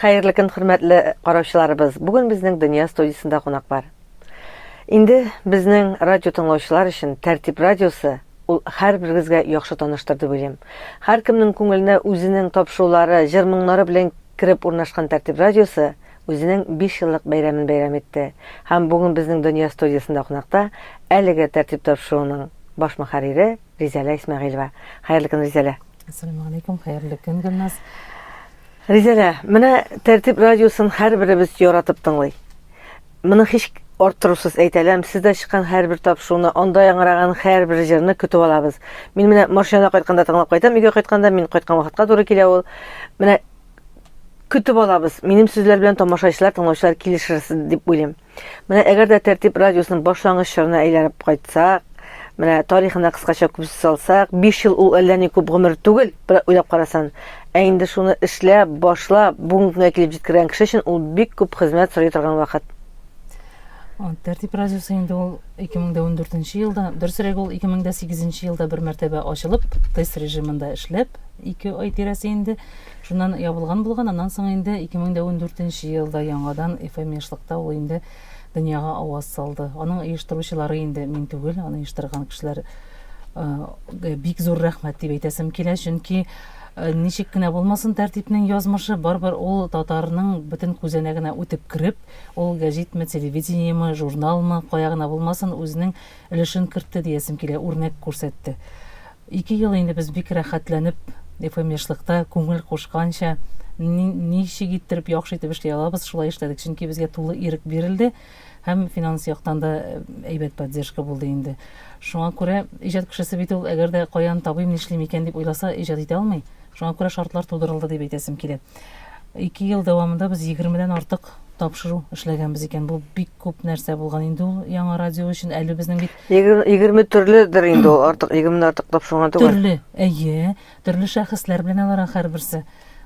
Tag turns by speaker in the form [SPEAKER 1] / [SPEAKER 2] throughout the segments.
[SPEAKER 1] Хәерле көн, хөрмәтле караучыларыбыз. Бүген безнең Дөнья студиясендә кунак бар. Инде безнең радио тыңлаучылар өчен Тәртип радиосы ул һәрберегезгә яхшы таныштыр дип уйлыйм. Һәркемнең күңеленә үзенең тапшырулары, җыр-моңнары белән кереп урнашкан Тәртип радиосы үзенең биш еллык бәйрәмен бәйрәм итте һәм бүген безнең Дөнья студиясендә кунакта әлеге тәртип тапшыруның баш мөхәррире Ризәлә Исмәгыйлева. Хәерле көн, Ризәлә! Әссәламегаләйкүм,
[SPEAKER 2] хәерле көн, Гөлназ!
[SPEAKER 1] Ризәлә, менә Тәртип радиосын һәрберебез яратып тыңлый. Моны һич арттырусыз әйтәләм, сездә чыккан һәрбер тапшыруны, анда яңгыраган һәрбер җырны көтеп алабыз. Мин менә машинада кайтканда тыңлап кайтам, өйгә кайтканда, мин кайткан вакытка туры килә ул. Менә Көтеп алабыз. Минем сүзләр белән тамашачылар, тыңлаучылар килешерсез дип уйлыйм. Менә әгәр дә Тәртип радиосының башлангыч чорына әйләнеп кайтсак, менә тарихына кыскача күз салсак, 5 ел ул әллә ни күп гомер түгел, бер уйлап карасан. Ә инде шуны эшләп, башлап, бүгенге көнгә килеп җиткергән кеше өчен ул бик күп хезмәт сорый торган вакыт.
[SPEAKER 2] Тәртип радиосы инде ул 2014 елда, дөресрәге ул 2008 елда бер мәртәбә ачылып, тест режимында эшләп, 2 ай тирәсе инде Шуннан ябылган булган, аннан соң инде 2014 нче елда яңадан ФМИшлыкта ул инде дөньяга аваз салды. Аның оештыручылары инде мин түгел, аны оештырган кешеләр га бик зур рәхмәт дип әйтәсем килә, чөнки ничек кенә булмасын тәртипнең язмышы, барыбер ул татарның бөтен күзәнәгенә үтеп кереп, ул гәҗитме, телевидениеме, журналмы, кая гына булмасын, үзенең өлешен кертте диясем килә, үрнәк күрсәтте. Ике ел инде без бик рәхәтләнеп FM яшьлыкта күңел кушканча ничек иттереп яхшы итеп эшли алабыз, шулай эшләдек, чөнки безгә тулы ирек бирелде һәм финанс яктан да әйбәт поддержка булды инде. Шуңа күрә иҗат кешесе бит ул, әгәр дә каян табыйм, нишлим икән дип уйласа, иҗат итә алмый. Шуңа күрә шартлар тудырылды дип әйтәсем килә. Ике ел дәвамында без егермедән артык тапшыру эшләгәнбез икән. Бу бик күп нәрсә булган инде ул яңа радио өчен. Әле безнең бит Егерме төрледер
[SPEAKER 1] инде ул артык, егерме артыклап шуңа түгел. Төрле, әйе.
[SPEAKER 2] Төрле шәхесләр белән алар һәрберсе.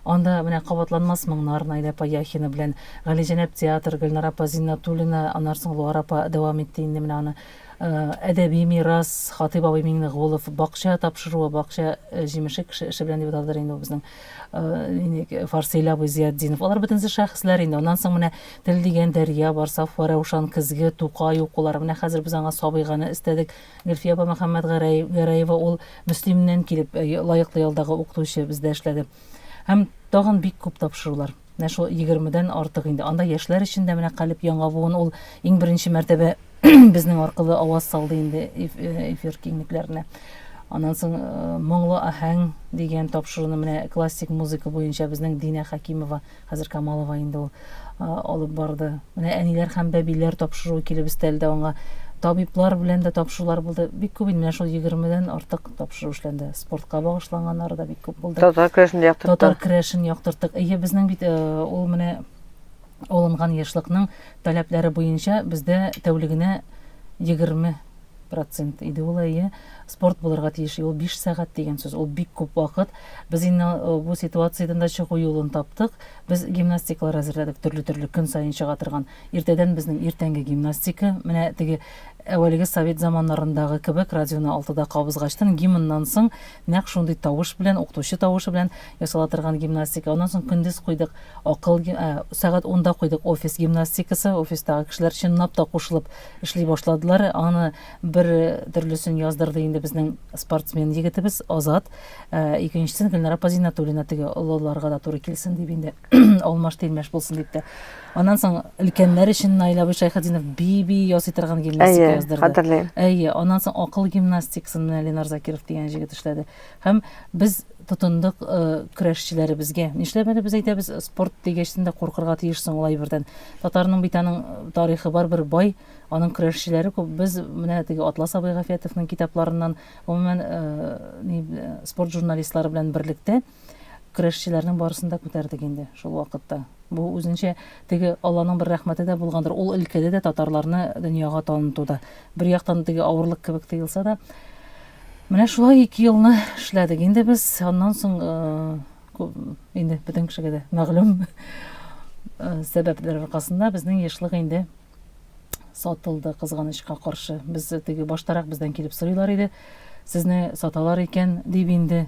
[SPEAKER 2] Анда менә кабатланмас моңнар Найда Паяхина белән Галиҗәнәп театр Гөлнара апа Зиннатуллина, аннан соң Луар апа дәвам итте инде менә аны. Э, әдәби мирас Хатыйп абый Миңнегулов, бакча тапшыруы, бакча э, җимеше кеше эше белән дип аталдыр инде ул безнең э, Фарсыйль абый Зиятдинов. Алар бөтенесе шәхесләр инде. Аннан соң менә Тел дигән дәрья бар, Сафа, Рәушан, Көзге, Тукай укулары. Менә хәзер без аңа Сабыйганы өстәдек. Гөлфия апа Мөхәммәтгәрәев, Гәрәева ул Мөслимнән килеп, лаеклы ялдагы укытучы бездә эшләде. Һәм тагын бик күп тапшырулар. Менә шул егермедән артык инде. Анда яшьләр өчен дә менә Калеб яңа буын ул иң беренче мәртәбә безнең аркылы аваз салды инде эфир киңлекләренә. Аннан соң Моңлы аһәң дигән тапшыруны менә классик музыка буенча безнең Динә Хәкимова Хәзер Камалова инде ул алып барды. Менә әниләр һәм бәбиләр тапшыруы килеп өстәлде аңа. Табиблар белән дә тапшырулар булды. Бик күп инде шул 20-дән артык тапшыру эшләнде. Спортка багышланганнары да бик күп булды. Татар крәшен яктырттык. Татар
[SPEAKER 1] крәшен яктырттык.
[SPEAKER 2] Ие, безнең бит э, ул менә алынган яшьлыкның таләпләре буенча бездә тәүлегенә 20 процент иде ул әйе спорт булырга тиеш ул биш сәгать дигән сүз ул бик күп вакыт без инде э, бу ситуациядән дә чыгу юлын таптык без гимнастикалар әзерләдек төрле төрле көн саен чыга торган иртәдән безнең иртәнге гимнастика менә теге әүвәлге совет заманнарындагы кебек радионы алтыда кабызгачтан гимннан соң нәкъ шундый тавыш белән укытучы тавышы белән ясала торган гимнастика аннан соң көндез куйдык акыл ә, сәгать унда куйдык офис гимнастикасы офистагы кешеләр чынлап та кушылып Эшли башладылар. Аны бер төрлесен яздырды инде безнең спортсмен егетебез Азат. Икенчесен Гөлнара Пазинатуллина теге олыларга да туры килсен дип инде алмаш тилмәш булсын дип тә. Аннан соң өлкәннәр өчен Наил абый Шайхетдинов би-би ясый торган гимнастика яздырды. Әйе, хәтерлим. Әйе, аннан соң акыл гимнастикасын менә Ленар Закиров дигән җегет эшләде. Һәм без тотындык көрәшчеләребезгә. Нишләп әле без әйтәбез, спорт дигәчтен дә куркырга тиеш соң ул әйбердән. Татарның бит аның тарихы бар бер бай, аның көрәшчеләре күп. Без менә теге Атлас абый Гафиятовның китапларыннан, гомумән, ни спорт журналистлары белән берлектә көрәшчеләрнең барысын да күтәрдек инде шул вакытта. Бу үзенчә теге Алланың бер рәхмәте дә булгандыр. Ул өлкәдә дә татарларны дөньяга танытуда. Бер яктан теге авырлык кебек тоелса да, Менә шулай ике елны эшләдек инде без. Аннан соң инде бөтен кешегә дә мәгълүм сәбәпләр аркасында безнең яшьлек инде сатылды кызганычка каршы. Без теге баштарак бездән килеп сорыйлар иде. Сезне саталар икән дип инде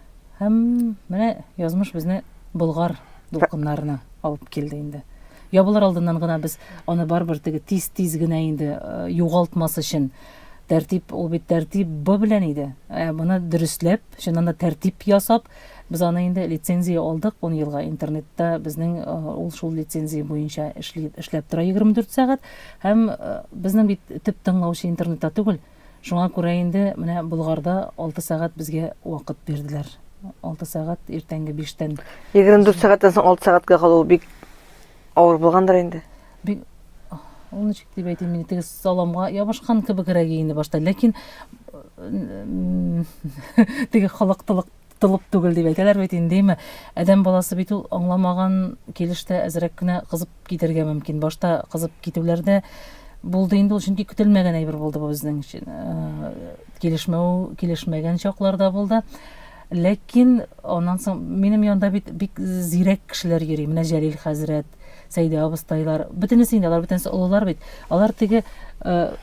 [SPEAKER 2] Һәм менә язмыш безне Болгар дулкыннарына алып килде инде. Ябылыр алдыннан гына без аны барыбер теге тиз-тиз генә инде э, югалтмас өчен тәртип ул бит тәртип б белән иде. Ә моны дөресләп, чыннан да тәртип ясап, без аны инде лицензия алдык 10 елга интернетта безнең э, ул шул лицензия буенча эшли, эшләп тора 24 сәгать һәм э, безнең бит төп тыңлаучы интернетта түгел, Шуңа күрә инде менә Болгарда алты сәгать безгә вакыт бирделәр. Алты сәгать иртәнге биштән. Егерме дүрт сәгатьтән
[SPEAKER 1] соң алты сәгатькә калу бик авыр булгандыр инде? Бик
[SPEAKER 2] ул ничек дип әйтим инде теге саламга ябышкан кебегрәк инде башта ләкин теге халыктылык тылып түгел дип әйтәләр бит инде, димме? Адәм баласы бит ул аңламаган килештә әзрәк кенә кызып китергә мөмкин. Башта кызып китүләрдә булды инде ул, чөнки көтелмәгән әйбер булды бу безнең өчен. Э, килешмәү, килешмәгән чакларда булды. Ләкин аннан соң минем янда бит бик зирәк кешеләр йөри. Менә Җәлил хәзрәт, Сәйдә абыстайлар, бөтенесе инде алар бөтенесе олылар бит. Алар теге э,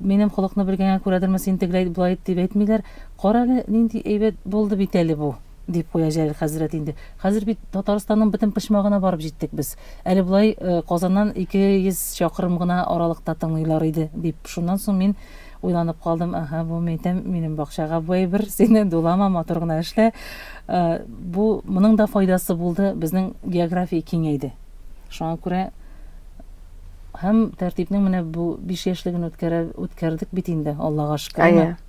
[SPEAKER 2] минем холыкны белгәнгә күрәдерме син тегеләй булай дип әйтмиләр. Карале, нинди әйбәт булды бит әле бу! дип куя Җәлил хәзрәт инде. Хәзер бит Татарстанның бөтен почмагына барып җиттек без. Әле болай Казаннан ике йөз чакрым гына аралыкта тыңлыйлар иде, дип, шуннан соң мин уйланып калдым, Әһә, бу, мәйтәм, минем бакчага бу әйбер, син дулама, матур гына эшлә. Бу, моның да файдасы булды, безнең география киңәйде. Шуңа күрә һәм тәртипнең менә бу биш яшьлеген үткәрә, үткәрдек бит инде, Аллага шөкер. Әйе.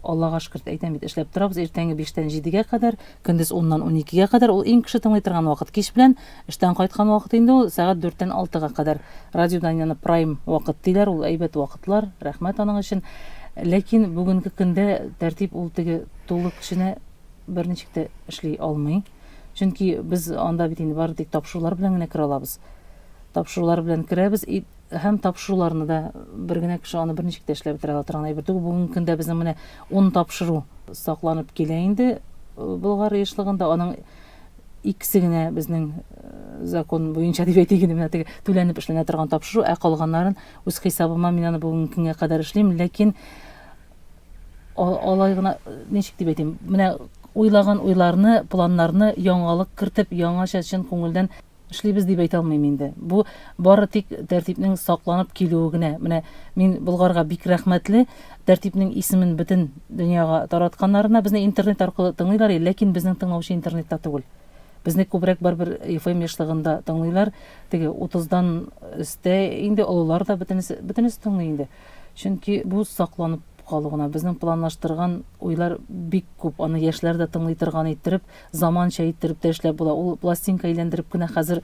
[SPEAKER 2] Аллага шөкерт әйтәм бит, эшләп торабыз иртәнге биштән җидегә кадәр, көндез уннан уникегә кадәр, ул иң кеше тыңлый торган вакыт. Кич белән эштән кайткан вакыт инде ул, сәгать дүрттән алтыга кадәр. Радио Данияны прайм вакыт диләр, ул әйбәт вакытлар, рәхмәт аның өчен. Ләкин бүгенге көндә тәртип ул теге тулы көченә берничек тә эшли алмый. Чөнки без анда бит инде бары тик тапшырулар белән генә керә алабыз. Тапшырулар белән керәбез, Һәм тапшыруларны да бер генә кеше аны берничек тә эшләп бетерә ала торган әйбер түгел. Бүгенге көндә безнең менә ун тапшыру сакланып килә инде Болгар еш-лыгында. Аның икесе генә безнең закон буенча дип әйтик инде, менә теге түләнеп эшләнә торган тапшыру, ә калганнарын үз хисабыма мин аны бүгенге көнгә кадәр эшлим, ләкин алай гына ничек дип әйтим, менә уйлаган уйларны, планнарны яңалык кертеп, яңача чын күңелдән Эшлибез дип әйтә алмыйм инде. Бу бары тик тәртипнең сакланып килүе генә. Менә мин Болгарга бик рәхмәтле, тәртипнең исемен бөтен дөньяга таратканнарына. Безне интернет аркылы тыңлыйлар иде, ләкин безнең тыңлаучы интернетта түгел. Безне күбрәк барыбер FM ешлыгында тыңлыйлар. Теге 30-дан өстә инде олылар да бөтенесе, бөтенесе тыңлый инде. Чөнки бу сакланып калу гына. Безнең планлаштырган уйлар бик күп. Аны яшьләр дә тыңлый торган иттереп, Заманча иттереп тә эшләп була. Ул пластинка әйләндереп кенә хәзер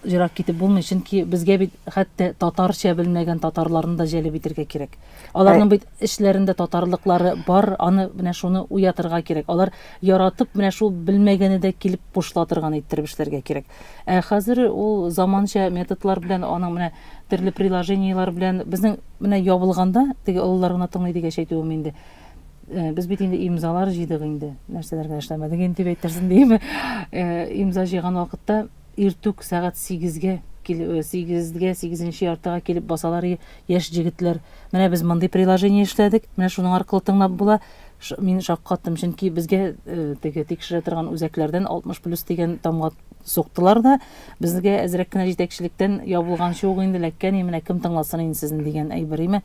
[SPEAKER 2] ерак китеп булмый, чөнки безгә бит хәтта татарча белмәгән татарларны да җәлеп итергә кирәк. Аларның бит эшләрендә татарлыклары бар, аны менә шуны уятырга кирәк. Алар яратып менә шул белмәгәне дә килеп кушыла торган иттереп эшләргә кирәк. Ә хәзер ул заманча методлар белән, аның менә төрле приложениеләр белән безнең менә ябылганда, теге олылар гына тыңлый дигәч әйтүем инде. Э, без бит инде имзалар җыйдык инде нәрсәләр генә эшләмәдек инде дип әйтерсең диеме э, имза җыйган вакытта иртүк сәгать сигезгә э, сигезгә сигезенче яртыга килеп басалар яшь җегетләр менә без мондый приложение эшләдек менә шуның аркылы тыңлап була мин шаккаттым чөнки безгә теге тикшерә торган үзәкләрдән алтмыш плюс дигән тамга суктылар да безгә әзрәк кенә җитәкчелектән ябылганчы ук инде ләккәни менә кем тыңласын инде сезне дигән әйбер име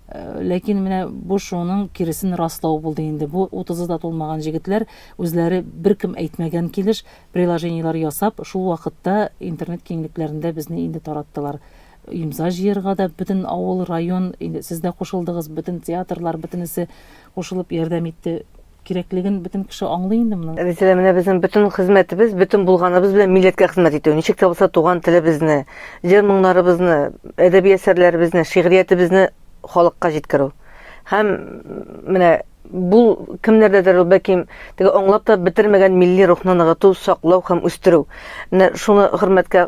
[SPEAKER 2] Ләкин менә бу шуның киресен раслау булды инде. Бу утызы да тулмаган җегетләр үзләре беркем әйтмәгән килеш приложениеләр ясап, шул вакытта интернет киңлекләрендә безне инде тараттылар. Имза җыерга да бөтен авыл, район, инде сез дә кушылдыгыз, бөтен театрлар, бөтенесе кушылып ярдәм итте. кирәклеген бөтен кеше аңлый инде моның. Рәзилә, менә безнең бөтен
[SPEAKER 1] хезмәтебез, бөтен булганыбыз белән милләткә хезмәт итү. Ничек тә булса туган телебезне, җыр-моңнарыбызны, әдәби әсәрләребезне, шигъриятебезне халыкка җиткерү. Һәм менә бу кемнәрдәдер ул бәлки теге аңлап та бетермәгән милли рухны ныгыту, саклау һәм үстерү. Менә шуны хөрмәткә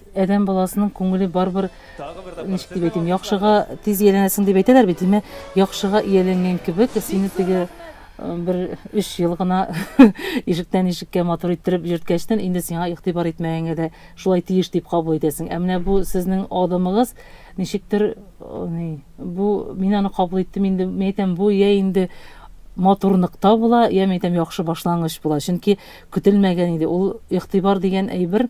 [SPEAKER 2] Адәм баласының күңеле барыбер, ничек дип әйтим, яхшыга тиз ияләнәсең дип әйтәләр бит, димә, яхшыга ияләнгән кебек, сине теге бер өч ел гына ишектән ишеккә матур иттереп йөрткәчтен, инде сиңа игътибар итмәгәнгә дә шулай тиеш дип кабул итәсең. Ә менә бу сезнең адымыгыз, ничектер, ни, бу, мин аны кабул иттем инде, мин әйтәм, бу йә инде матурлыкта була, йә, мин әйтәм, яхшы башлангыч була. Чөнки көтелмәгән иде. Ул игътибар дигән әйбер,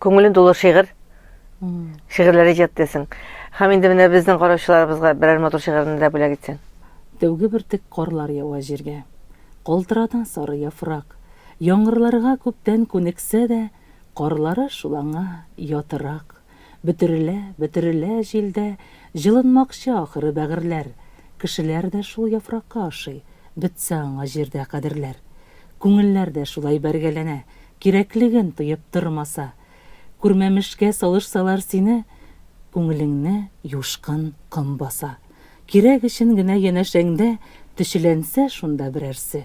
[SPEAKER 1] күңелен тулы шигырь шигырьләр иҗат итәсең һәм инде менә безнең караучыларыбызга берәр матур шигырьне дә бүләк итсәң тәүге бөртек
[SPEAKER 2] карлар ява җиргә калтырата сары яфрак яңгырларга күптән күнексә дә карлары шул аңа ятырак бөтерелә бөтерелә җилдә җылынмакчы ахыры бәгырьләр кешеләр дә шул яфракка ошый бетсә аңа җирдә кадерләр күңелләр дә шулай бәргәләнә Кирәклеген тоеп тормаса. Күрмәмешкә салышсалар сине, Күңелеңне юшкын ком баса. Кирәк өчен генә янәшәңдә Төчеләнсә шунда берәрсе,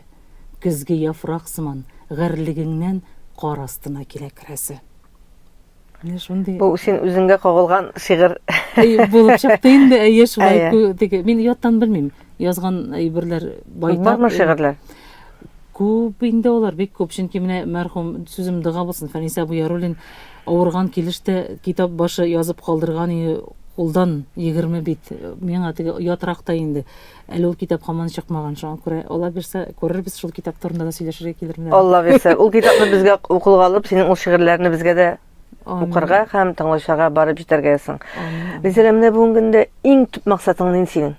[SPEAKER 2] Көзге яфрак сыман, гарьлегеңнән Кар астына килә керәсе. Менә шундый. Бу син үзеңгә
[SPEAKER 1] кагылган шигырь. Әйе, булып чыкты
[SPEAKER 2] инде, әйе, шулай күтеге. Мин яттан белмим. Язган әйберләр байтак. Бармы шигырьләр?
[SPEAKER 1] Күп
[SPEAKER 2] инде алар, бик күп. Чөнки менә мәрхүм сүзем дога булсын, Фәниса Буяруллин авырган килештә китап башы язып калдырган иде, кулдан 20 бит. Миңа теге ятракта инде. Әле ул китап хаман чыкмаган, шуңа күрә Алла бирсә, күрербез, шул китап турында да сөйләшергә килермен. әле. Алла бирсә, ул китапны
[SPEAKER 1] безгә укылга алып, синең ул шигырьләрне безгә дә Амин. укырга һәм тыңлаучыларга барып җитәргә язсын. Амин. Гөлзәрә, менә бүгенге көндә иң төп максатың нинди синең?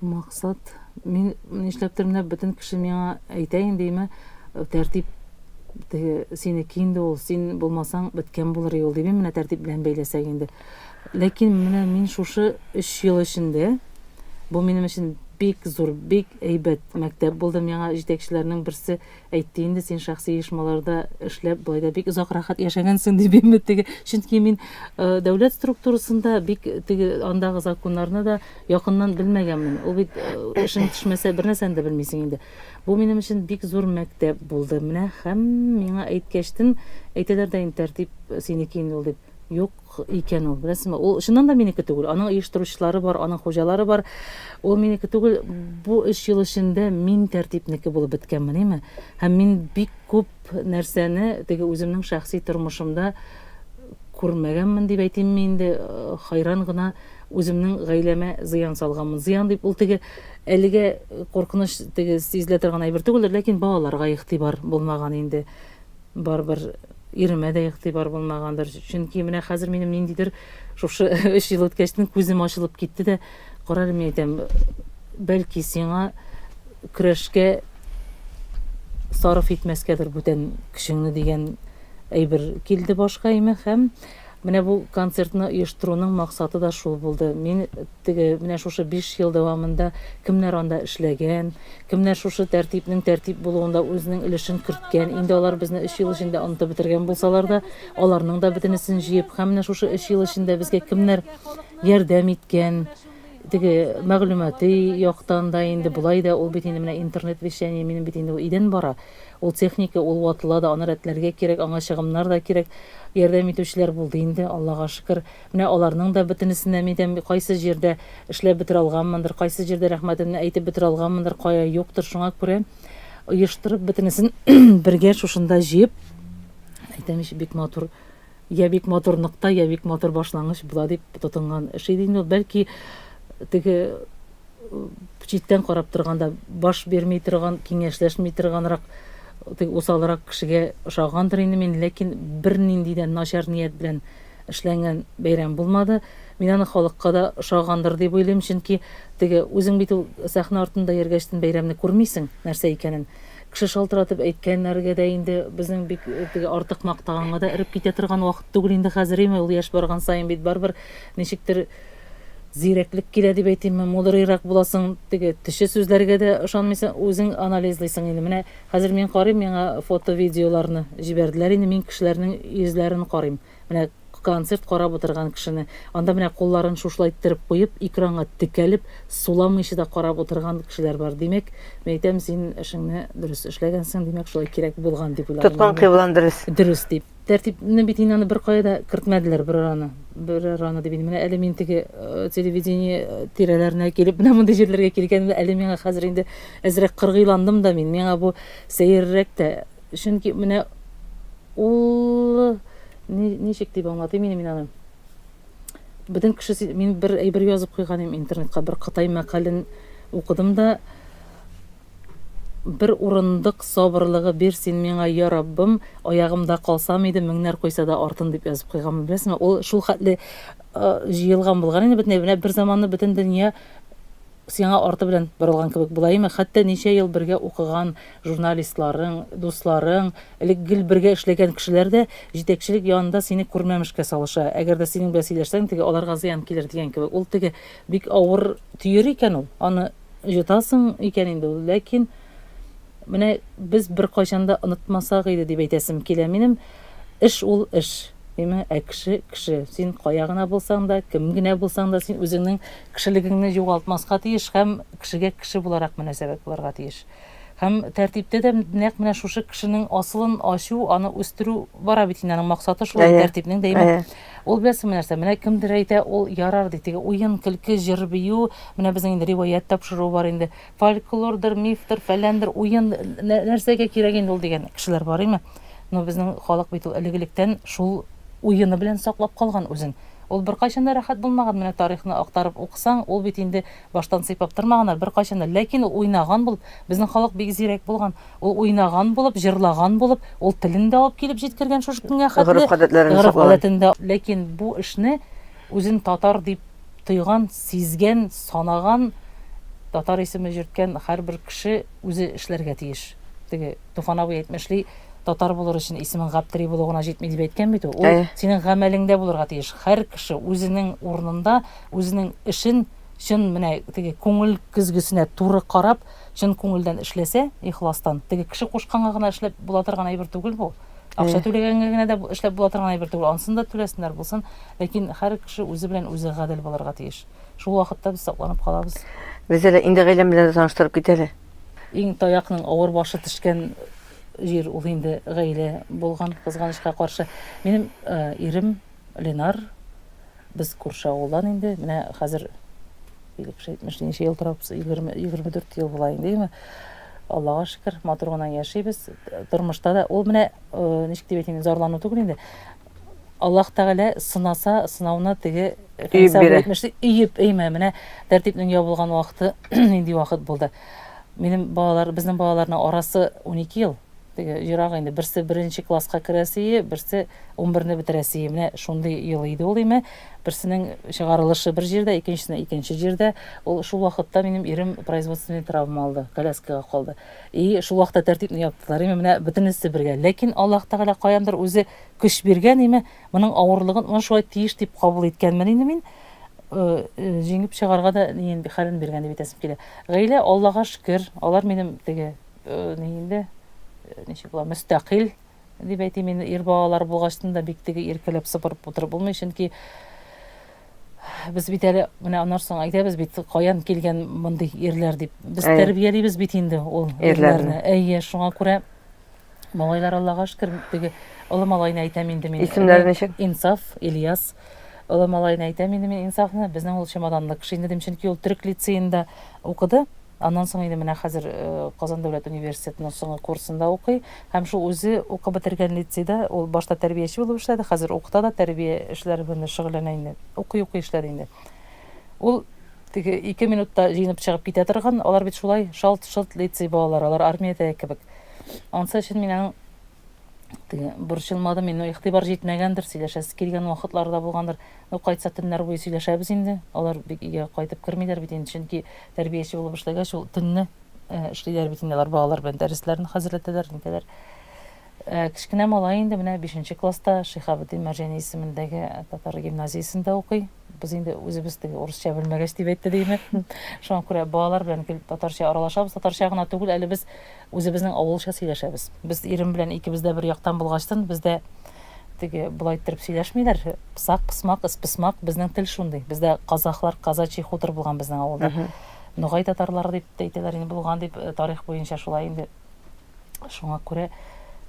[SPEAKER 2] Максат, мин нишләптер менә бөтен кеше миңа әйтә индеме, тәртип теге синеке инде ул, син булмасаң беткән булыр и ул, дим менә тәртип белән бәйләсәк инде. Ләкин менә мин шушы өч ел эчендә, бу минем өчен бик зур, бик әйбәт мәктәп булды миңа, җитәкчеләрнең берсе әйтте инде, син шәхси оешмаларда эшләп, болай да бик озак рәхәт яшәгәнсең, дип инде теге, чөнки мин дәүләт структурасында бик теге андагы законнарны да якыннан белмәгәнмен. Ул бит эшең төшмәсә, бернәрсәне дә белмисең инде. Бу минем өчен бик зур мәктәп булды. Менә һәм миңа әйткәчтен әйтәләр дә инде тәртип синеке инде ул дип. Юк икән ул, беләсезме? Ул чыннан да минеке түгел. Аның оештыручылары бар, аның хуҗалары бар. Ул минеке түгел. Бу өч ел эчендә мин тәртипнеке булып беткәнмен, име? Һәм мин бик күп нәрсәне теге үземнең шәхси тормышымда күрмәгәнмен дип әйтимме инде, хайран гына үземнең гаиләмә зыян салганмын. Зыян дип ул теге әлегә куркыныч теге сизелә торган әйбер түгелдер, ләкин балаларга игътибар булмаган инде. Барыбер иремә дә игътибар булмагандыр. Чөнки менә хәзер минем ниндидер шушы өч ел үткәчтен күзем ачылып китте дә, карар мин әйтәм, бәлки сиңа көрәшкә сарыф итмәскәдер бүтән көчеңне дигән әйбер килде башка име һәм Менә бу концертны оештыруның максаты да шул булды. Мин теге менә шушы биш ел дәвамында кемнәр анда эшләгән, кемнәр шушы тәртипнең тәртип булуында үзенең өлешен керткән, инде алар безне өч ел эчендә онытып бетергән булсалар да, аларның да бөтенесен җыеп һәм менә шушы өч ел эчендә безгә кемнәр ярдәм иткән, теге мәгълүмати яктан да инде, болай да, ул бит инде менә интернет-вещание, минем бит инде идән бара. Ул техника, ул ватыла да, аны рәтләргә кирәк, аңа чыгымнар да кирәк. Ярдәм итүчеләр булды инде, Аллага шөкер. Менә аларның да бөтенесен дә, әйтәм, кайсы җирдә эшләп бетерә алганмындыр, кайсы җирдә рәхмәтемне әйтеп бетерә алганмындыр, кая юктыр. Шуңа күрә оештырып, бөтенесен бергә шушында җыеп, әйтәм ич, бик матур. Я бик матур нокта, я бик матур башлангыч була дип тотынган эш иде инде ул. Бәлки теге читтән карап торганда баш бирми торган, киңәшләшми торганрак, теге усалрак кешегә ошагандыр инде мин, ләкин бернинди дә начар ният белән эшләнгән бәйрәм булмады. Мин аны халыкка да ошагандыр дип уйлыйм, чөнки теге үзең бит ул сәхнә артында йөргәчтен бәйрәмне күрмисең, нәрсә икәнен. Кеше шалтыратып әйткәннәргә дә инде безнең бик теге артык мактаганга да эреп китә торган вакыт түгел инде хәзер име, ул яшь барган саен бит барыбер ничектер зирәклек килә дип әйтимме, мудрыйрак буласың, теге төче сүзләргә дә ышанмыйсың, үзең анализлыйсың инде. Менә хәзер мин карыйм, миңа фото-видеоларны җибәрделәр инде, мин кешеләрнең йөзләрен карыйм. Менә концерт карап утырган кешене, анда менә кулларын шушылай иттереп куеп, экранга текәлеп, суламыйча да карап утырган кешеләр бар. Димәк, мин әйтәм, син эшеңне дөрес эшләгәнсең, димәк, шулай кирәк булган, дип уйладым. Тоткан кыйблаң дөрес.
[SPEAKER 1] Дөрес, дип.
[SPEAKER 2] Тәртипне бит инде аны беркая да кертмәделәр, берараны, берараны дип инде. Менә әле мин теге телевидение тирәләренә килеп, менә мондый җирләргә килгәнемдә, әле миңа хәзер инде әзрәк кыргыйландым да мин. Миңа бу сәеррәк тә. Чөнки менә ул ничек дип аңлатыйм инде мин аны. Бөтен кеше мин бер әйбер язып куйган идем интернетка, бер кытай мәкален укыдым да бер урындык сабырлыгы бир син миңа, я Раббым, аягымда калсам иде, меңнәр койса да артын дип язып куйганмын. Беләсеңме, ул шул хәтле җыелган булган инде бөтенләй. Менә бер заманны бөтен дөнья Сиңа арты белән борылган кебек булаемы, хәтта ничә ел бергә укыган журналистларың, дусларың, элек гел бергә эшләгән кешеләр дә җитәкчелек янында сине күрмәмешкә салыша. Әгәр дә синең белән сөйләшсәң, теге аларга зыян килер дигән кебек. Ул теге бик авыр төер икән ул. Аны йотасың икән инде ул, ләкин. Менә без беркайчан да онытмасак иде, дип әйтәсем килә минем. Эш ул эш, диме, ә кеше, кеше. Син кая гына булсаң да, кем генә булсаң да, син үзеңнең кешелегеңне югалтмаска тиеш һәм кешегә кеше буларак мөнәсәбәт булырга тиеш. Һәм тәртиптә дә нәкъ менә шушы кешенең асылын ачу, аны үстерү бара бит инде, аның максаты шул инде, тәртипнең дәимә. Ул беләсеңме нәрсә, менә кемдер әйтә, ул ярар ди, теге уен, көлке, җыр-бию, менә безнең инде риваять тапшыруы бар инде. фольклордыр, мифтыр, фәләндер, уен, нәрсәгә кирәк инде ул дигән кешеләр бар име? Но безнең халык бит ул элек-электән шул уены белән саклап калган үзен. Ул беркайчан да рәхәт булмаган, менә тарихны актарып укысаң, ул бит инде баштан сыйпап тормаганнар беркайчан да, ләкин ул уйнаган булып, безнең халык бик зирәк булган, ул уйнаган булып, җырлаган булып, ул телен дә алып килеп җиткергән шушы көнгә хәтле, гореф-гадәтләрен саклаган. Гореф-гадәтен дә, ләкин бу эшне. Үзен татар дип тойган, сизгән, санаган, татар исеме җөрткән һәрбер кеше үзе эшләргә тиеш. Теге Туфан абый әйтмешли, татар булыр өчен исемең Гаптери булу гына җитми дип әйткән бит ул. Ул Әйе. синең гамәлеңдә булырга тиеш. Һәр кеше үзенең урынында, үзенең эшен чын менә теге күңел көзгесенә туры карап, чын күңелдән эшләсә, ихластан, теге кеше кушканга гына эшләп була торган әйбер түгел бу. Акча түләгәнгә генә дә эшләп була торган әйбер түгел. Ансын да түләсеннәр булсын. Ләкин һәр кеше үзе белән үзе гадел булырга тиеш. Шул вакытта без сакланып калабыз. Без әле инде
[SPEAKER 1] гаиләм белән таныштырып кит әле. Иң таякның
[SPEAKER 2] авыр башы төшкән җир ул инде гаилә булган, кызганычка каршы. Минем э, ирем Ленар, без күрше авылдан инде, менә хәзер 70 ничә ел торабыз, 20, 24 ел була инде, яме. Аллага шөкер, матур гына яшибез. Тормышта да ул менә э, ничек дип әйтим, зарлану түгел инде. Аллаһ Тәгалә сынаса, сынауына теге Фәнисә бирә. әйтмешли, өеп әйме, менә тәртипнең ябылган вакыты нинди вакыт булды. Минем балалар, безнең балаларның арасы 12 ел. Теге ерак инде, берсе беренче класска керәсие, берсе унберне бетерәсие. Менә шундый ел иде ул име. Берсенең чыгарылышы бер җирдә, икенчесенең икенче җирдә. Ул шул вакытта минем ирем производственный травма алды, коляскага калды. И шул вакытта тәртипне яптылар име, менә бөтенесе бергә. Ләкин Аллаһ Тәгалә каяндыр үзе көч биргән име, моның авырлыгын моны шулай тиеш дип кабул иткәнмен инде мин. Җиңеп чыгарга да хәлен биргән дип әйтәсем килә. Гаилә, Аллага шөкер, алар минем теге Э, ни инде, э, ничек була, мөстәкыйль дип әйтим мин, ир балалар булгачтын да бик теге иркәләп сыпырып утырып булмый, чөнки без бит әле менә аннан соң әйтәбез бит, каян килгән мондый ирләр дип. Без Әй. тәрбиялибез бит инде ул ирләрне. Әйе, шуңа күрә малайлар Аллага шөкер, теге олы малайны әйтәм инде мин. Исемнәре ничек? Инсаф,
[SPEAKER 1] Ильяс.
[SPEAKER 2] Олы малайны әйтәм инде мин Инсафны. Безнең ул чемоданлы кеше инде дим, чөнки ул төрек лицеенда укыды. Аннан соң инде менә хәзер Казан дәүләт университетының соңгы курсында укый һәм шул үзе укып бетергән лицейда ул башта тәрбияче булып эшләде, хәзер укыта да, тәрбия эшләре белән дә шөгыльләнә инде. Укый-укый эшләде инде. Ул теге ике минутта җыенып чыгып китә торган, алар бит шулай шалт-шолт лицей балалары, алар армиядәге кебек. Ансы өчен мин аның теге борчылмадым, мин игътибар җитмәгәндер, сөйләшәсе килгән вакытлары да булгандыр. Ну, кайтса төннәр буе сөйләшәбез инде. Алар бик өйгә кайтып кермиләр бит инде, чөнки Тәрбияче булып эшләгәч, ул төнне эшлиләр бит инде алар балалар белән дәресләрен хәзерләтәләр, нитәләр. Кечкенә малай инде менә 5 класста Шихабетдин Мәрҗани исемендәге татар гимназиясендә укый. Без инде үзебез теге урысча белмәгәч дип әйтте димме. Шуңа күрә балалар белән гел татарча аралашабыз, татарча гына түгел, әле без Үзебезнең авылча сөйләшәбез. Без ирем белән икебез дә бер яктан булгачтын, бездә теге болай иттереп сөйләшмиләр. Псак, псмак, ыспсмак, безнең тел шундый. Бездә казахлар, казачий хутор булган безнең авылда. Ногай татарлары дип тә әйтәләр инде, булган дип, э, тарих буенча шулай инде. Шуңа күрә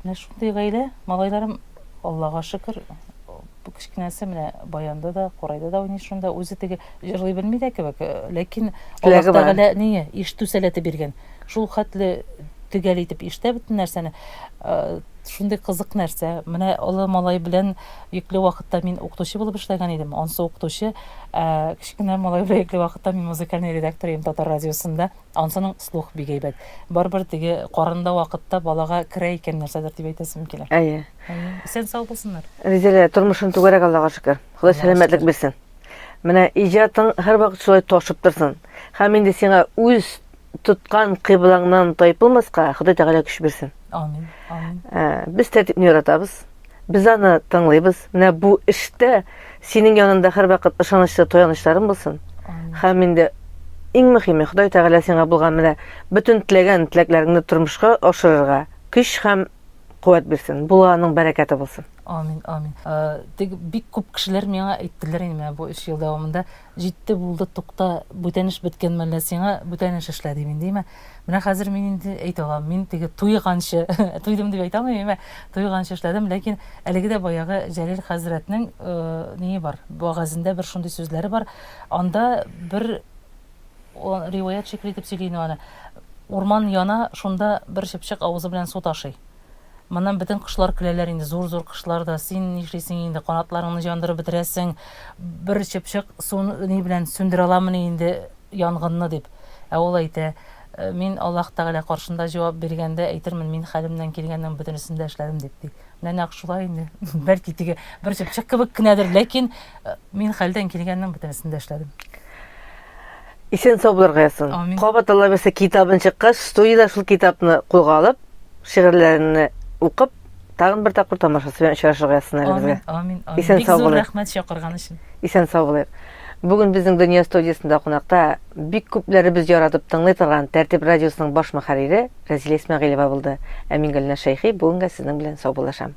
[SPEAKER 2] менә шундый гаилә, малайларым, Аллага шөкер, бу кечкенәсе менә баянда да, курайда да уйный шунда. Үзе теге җырлый белми дә кебек, э, ләкин Теләге Аллаһ бар. Тәгалә ние, ишетү сәләте биргән. Шулхәтле төгәл итеп ишетә бөтен нәрсәне. Шундый кызык нәрсә. Менә олы малай белән йөкле вакытта мин укытучы булып эшләгән идем. Ансы укытучы, ә кечкенә малай белән йөкле вакытта мин музыкальный редактор идем Татар радиосында. Ансының слух бик әйбәт. Барыбер теге карында вакытта балага керә икән нәрсәдер дип әйтәсем килә. Әйе.
[SPEAKER 1] Исән-сау
[SPEAKER 2] булсыннар. Ризилә, тормышың
[SPEAKER 1] түгәрәк Аллага шөкер. Ходай сәламәтлек бирсен. Менә иҗатың һәрвакыт шулай ташып торсын. Һәм инде сиңа үз тоткан кыйблаңнан тайпылмаска Ходай Тәгалә көч бирсен. Амин. Амин.
[SPEAKER 2] Э, без тәртипне
[SPEAKER 1] яратабыз. Без аны тыңлыйбыз. Менә бу эштә синең янында һәрвакыт ышанычлы таянычларың булсын. Һәм инде иң мөһиме Ходай Тәгалә сиңа булган менә бөтен теләгән теләкләреңне тормышка ашырырга көч һәм куәт бирсен. Булганың бәрәкәте булсын. Амин, амин. Э,
[SPEAKER 2] Тик бик күп кешеләр миңа әйттеләр инде менә бу 3 ел дәвамында, Җитте, булды, тукта, бүтән эш беткән мәлдә сиңа бүтән эш эшлә дим инде, имә. Менә хәзер мин инде әйтә алам, мин теге туйганчы, туйдым дип әйтә алмыйм, имә, туйганчы эшләдем, ләкин әлеге дә баягы Җәлил хәзрәтнең ние бар, вәгазендә бер шундый сүзләре бар, анда бер риваять шикелле итеп сөйли иде аны, урман яна, шунда бер чыпчык авызы белән су ташый. Моннан бөтен кошлар көләләр инде, зур-зур кошлар да. Син нишлисең инде, канатларыңны җандырып бетерәсең. Бер чыпчык суны ни белән сүндерә аламыни инде янгынны, дип. Ә ул әйтә, «Э, Мин Аллаһ Тәгалә каршында җавап биргәндә әйтермен, мин хәлемнән килгәннең бөтенесен дә эшләдем, дип, ди. Менә нәкъ шулай инде. Бәлки теге бер чыпчык кебек кенәдер, ләкин э, мин хәлдән килгәннең бөтенесен дә эшләдем.
[SPEAKER 1] Исән сау булырга язсын. Амин. Кабат Алла берсе
[SPEAKER 2] китабын
[SPEAKER 1] чыккач, студиядә шул китапны кулга алып, шигырьләрне укып, тагын бер тапкыр тамашасы белән очрашырга язсын әле безгә. Амин, амин, амин. Исән Бик сау зур
[SPEAKER 2] булыйк. рәхмәт
[SPEAKER 1] чакырган өчен.
[SPEAKER 2] Исән сау булыйк.
[SPEAKER 1] Бүген безнең Дөнья студиясендә кунакта бик күпләребез яратып тыңлый торган Тәртип радиосының баш мөхәррире Рәзилә Исмәгыйлева булды. Ә мин Гөлназ Шәйхи бүгенгә сезнең белән саубуллашам.